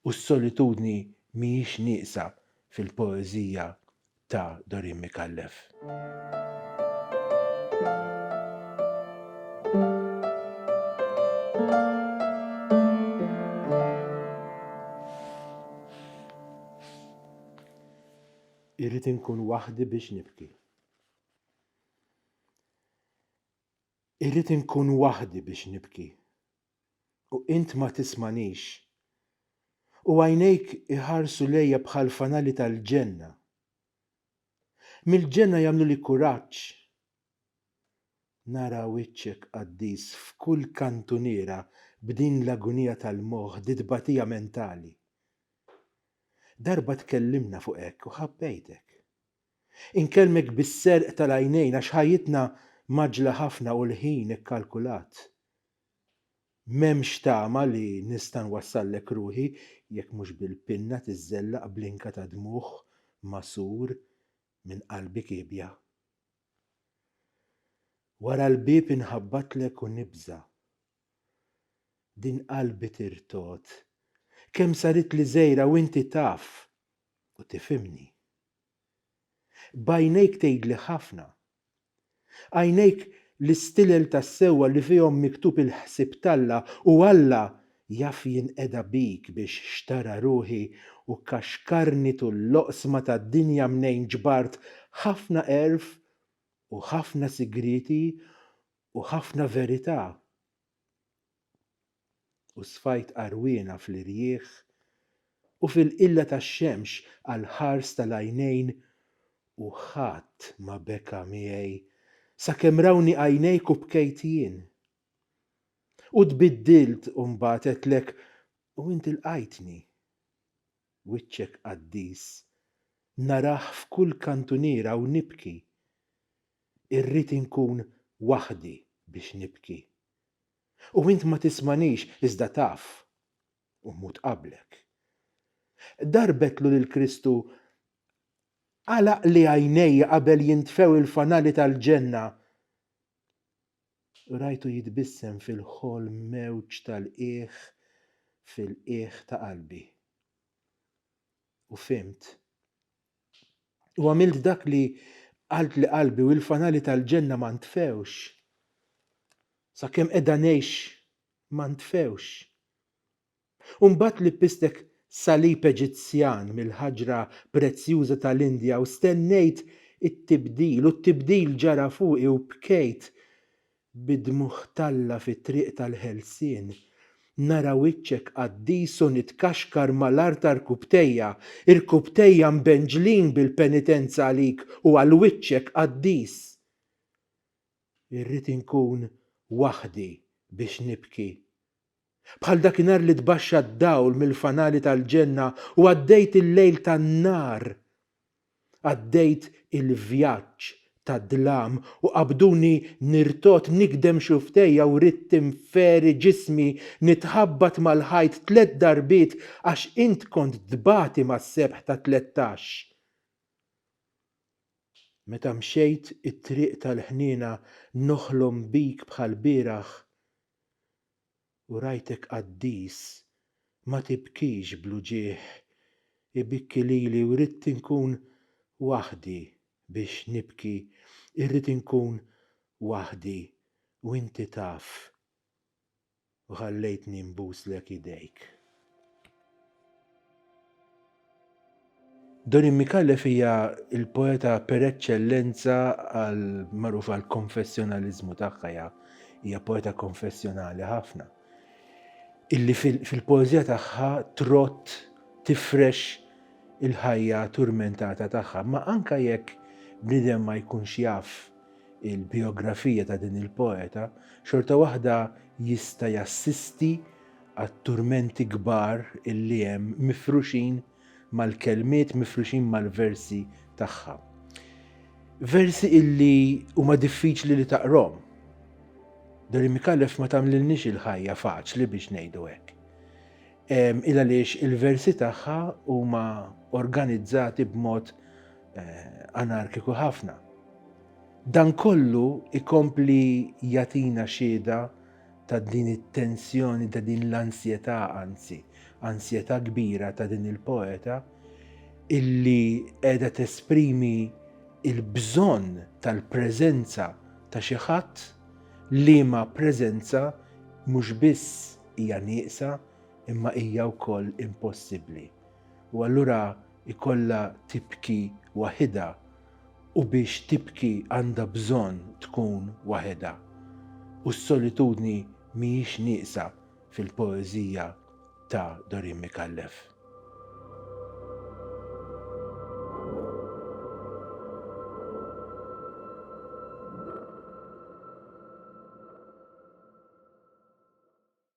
U s-solitudni mhijiex nieqsa fil-poeżija ta' Dorin Micallef. Irrid inkun waħdi biex nibki. Irrid inkun waħdi biex nibki. u int ma tismanix. U għajnejk iħarsu lejja bħal fanali tal-ġenna. Mill-ġenna jagħmluli kuraġġ. Nara wiċċek qaddis f'kull kantuniera b'din l-agunija tal-moħħ di tbatija mentali. Darba tkellimna fuq hekk u ħabbejtek. Inkellmek bis-serq tal-għajnejn għax ħajjitna mgħaġġla ħafna u l-ħin ikkalkulat. M'hemmx tama li nista' nwassallek ruħi jekk mhux bil-pinna tiżżellaq blinka ta' dmugħ magħsur minn qalbi kiebja. Wara l-bieb inħabbatlek u nibża'. Din qalbi tirtogħod. Kemm saritli żgħira u inti taf u tifhimni. B'għajnejk tgħidli ħafna. Għajnejk l-istilel tas-sewwa li fihom miktub il-ħsieb t'Alla u Alla jaf jinqeda bik biex xtara ruħi u kkaxkarni tul l-oqsma tad-dinja mnejn ġbart ħafna għerf u ħafna sigrieti u ħafna verità. u sfajt għarwiena fl-irjieħ u fil-qilla tax-xemx għall-ħars tal-għajnejn u ħadd ma beka miegħi sakemm rawni għajnejk u bkejt jien. U tbiddilt u mbagħad għedtlek u int ilqajtni. Wiċċek qaddis narah f'kull kantuniera u nibki. Irrid inkun waħdi biex nibki. U int ma tismanix iżda taf, u mmut qablek. Darbetlu lil Kristu, Għalaqli għajnejja qabel jintfew il-fanali tal-ġenna. U rajtu jitbissem fil-ħolm mewġ tal-qiegħ fil-qiegħ ta' qalbi. U fhimt. U għamilt dak li qaltli qalbi u l-fanali tal-ġenna ma ntfewx. Sakemm qiegħda ngħix ma ntfewx. U mbagħad lippistek salib Eġizzjan mill-ħaġra prezzjuża tal-Indja u stennejt it-tibdil u t-tibdil ġara fuqi u bkejt bid-dmugħ t'Alla fit-triq tal-ħelsien, nara wiċċek qaddis u nitkaxkar mal-art ta' rkubtejja, irkubtejja mbenġlin bil-penitenza għalik u għal wiċċek qaddis. Irrid inkun waħdi biex nibki Bħal dakinhar li tbaxxa d-dawl mill-fanali tal-ġenna u għaddejt il-lejl tan-nar. Għaddejt il-vjaġġ tad-dlam u qabduni nirtogħod nigdem xufftejja u ridt tinferi ġismi nitħabbat mal-ħajt tliet darbiet għax int kont tbati mas-sebħ ta' tlettax. Meta mxejt it-triq tal-ħniena noħlom bik bħall-bieraħ U rajtek qaddis ma tibkix bl-uġigħ Ibikki lili u ridt inkun waħdi biex nibki Irrid inkun waħdi u inti taf U ħallejtni nbuslek idejk. Dorin Micallef hija l-poeta per eċċellenza għal magħrufa għal konfessjonaliżmu tagħha hija hija poeta konfessjonali ħafna. Illi fil-poeżija tagħha trott tifrex il-ħajja turmentata tagħha, ma anka jekk bniedem ma jkunx jaf il-biografija ta' din il-poeta, xorta waħda jista' jassisti għat-turmenti kbar li hemm mifruxin mal-kelmiet, mifruxin mal-versi tagħha. Versi illi huma diffiċli li taqrom. Dari Mikallef ma tagħmlilniex il-ħajja faċli biex ngħidu hekk. Il għaliex il-versi tagħha huma organizzati b'mod eh, anarkiku ħafna. Dan kollu ikompli jatina xieda ta' din it-tensjoni, ta' din l-ansjetà anzi, ansjetà kbira ta' din il-poeta illi qiegħda tesprimi il-bżonn tal-preżenza ta' xi ħadd li ma preżenza mhux biss hija nieqsa imma hija wkoll impossibbli. U allura ikollha tibki waħidha u biex tibki għandha bżonn tkun waħedha. U s-solitudni mhijiex nieqsa fil-poeżija ta' Dorin Micallef.